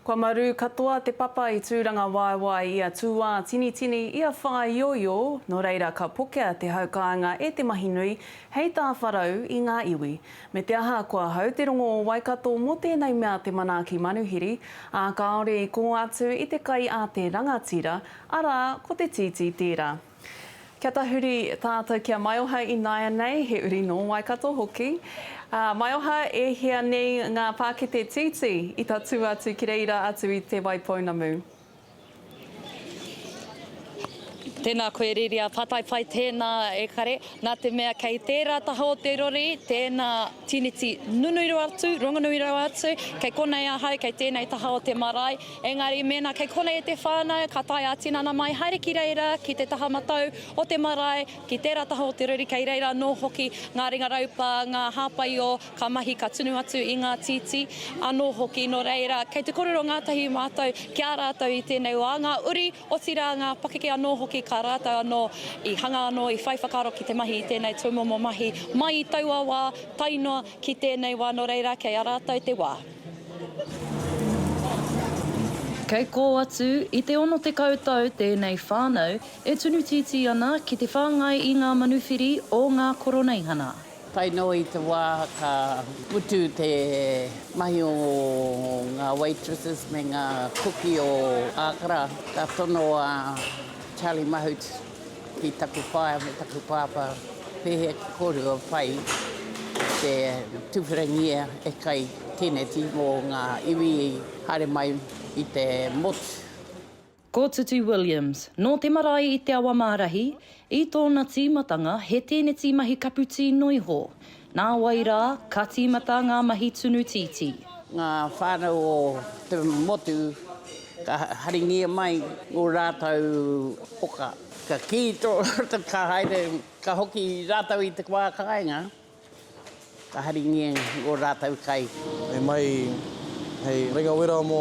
Kua marū katoa te papa i tūrangawaewae i a tūātinitini, i a whāioio, nō reira ka pokea te hau kāinga e te mahi nui, hei tāwharau i ngā iwi. Me te aha, kua hau te rongo o Waikato mō tēnei mea te manaaki manuhiri, ā, kāore i kō atu i te kai a te rangatira, arā, ko te tītī tērā. Kia tahuri tātou ki a Maioha i nāianei, he uri nō Waikato hoki. Ā, Maioha, e hia nei ngā pākete tītī i tatū atu ki reira atu i Te Waipounamu? Tēnā koe Riria, pātai pai tēnā e kare, nā te mea kei tērā taha o te rori tēnā tīniti nunui rawa atu, rongonui rawa atu, kei konei ahau, kei tēnei taha o te marae, Engari mēnā kei konei te whānau, ka tae ā-tinana mai haere ki reira, ki te taha matau o te marae, ki tērā taha o te rori kei reira anō hoki ngā ringa raupā, ngā hāpaio ka mahi ka tunu atu i ngā tītī anō hoki. Nō reira, kei te kōrero ngātahi mātou ki a rātou i tēnei wā, ngā uri, otirā ngā pakeke anō hoki ka rātou anō i hanga anō, i whai whakaaro ki te mahi i tēnei tūmomo mahi mai i taua wā tae noa ki tēnei wā. Nō reira, kei a rātou te wā. Kei kō atu i te 60 tau tēnei whānau e tunu tītī ana ki te whāngai i ngā manuwhiri o ngā Koroneihana. Tae noa i te wā ka mutu te mahi o ngā waitresses me ngā kuki o Ākara, ka tono a Charlie Mahut, ki taku whaea me taku pāpā, pēhea te kōrua whai i te tuwherangia e kai tēneti mō ngā iwi i haere mai i te motu. Ko Tutu Williams, nō te marae i Te Awamārahi, i tōna tīmatanga he tēneti mahi kapu tī noihō. Nāwai rā, ka tīmata ngā mahi tunu tītī. Ngā whānau o te motu ka haringia mai ō rātou poka. Ka kī tō rātou ka haere, ka hoki rātou i te wā kāinga, ka haringia ō rātou kai. E mai hei rengawera mō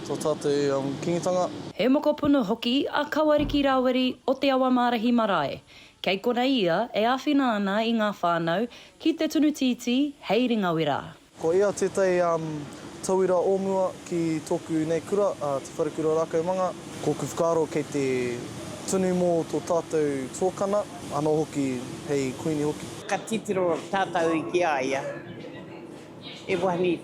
tō tātou kingitanga. He mokopuna hoki a Kawariki Rawiri o Te Awamārahi Marae. Kei konei ia e āwhina ana i ngā whānau ki te tunu tītī hei ringawera. Ko ia tētahi tauira o mua ki tōku nei kura, Te Wharekura Rākaumanga. Kōku whakaaro kei te tunu mō tō tātou tuakana, anō hoki hei Kuini hoki. Ka titiro tātou ki a ia, he wahine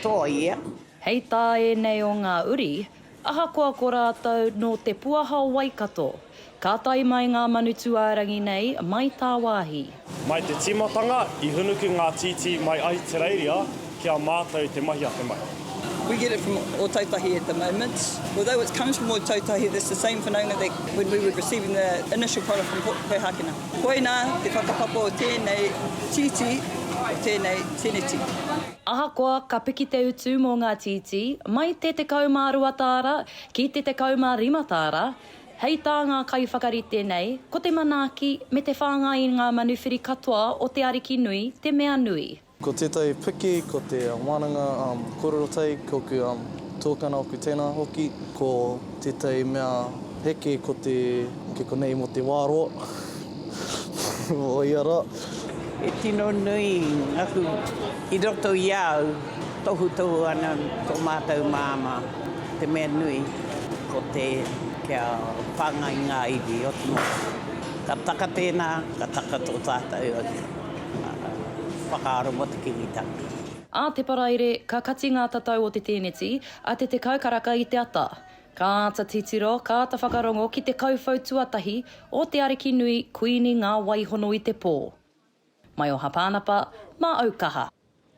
toa ia. Hei tā ēnei o ngā uri, Ahakoa ko rātou nō te puaha o Waikato, ka tae mai ngā Manutūārangi nei mai tāwāhi. Mai te tīmatanga, i hunuku ngā tītī mai Ahitereiria ki a mātou te mahi ake mai. We get it from Ōtautahi at the moment. Although it comes from Ōtautahi, that's the same whanaunga that when we were receiving the initial product from Port Poihākena. Koinā te whakapapa o tēnei tītī, o tēnei teneti. Ahakoa ka piki te utu mō ngā tītī, mai te 12 tāra ki te 15 tāra, hei tā ngā kaiwhakarite nei, ko te manaaki me te whāngai i ngā manuwhiri katoa o te ariki nui te mea nui. Ko tētahi piki ko te wānanga korero tai, ko oku tuakana, oku tēnā hoki, ko. Tētahi mea heke ko te, ki konei mō te wā roa, mō ia rā. He tino nui ngā hū i roto i a au, tohutohu ana tō mātou māmā, te mea nui ko te kia whāngai ngā iwi o te motu. Ka taka tēnā, ka taka tō tātou whakaaro mō te Kiwitanga. Ā te Paraire, ka kati ngā tatau o te tēneti, A te tekau karaka i te ata. Ka āta titiro, ka āta whakarongo ki te kauwhau tuatahi o te ariki nui Kuini Ngā Waihono i te pō. Mai o Hapanapa, mā Aukaha.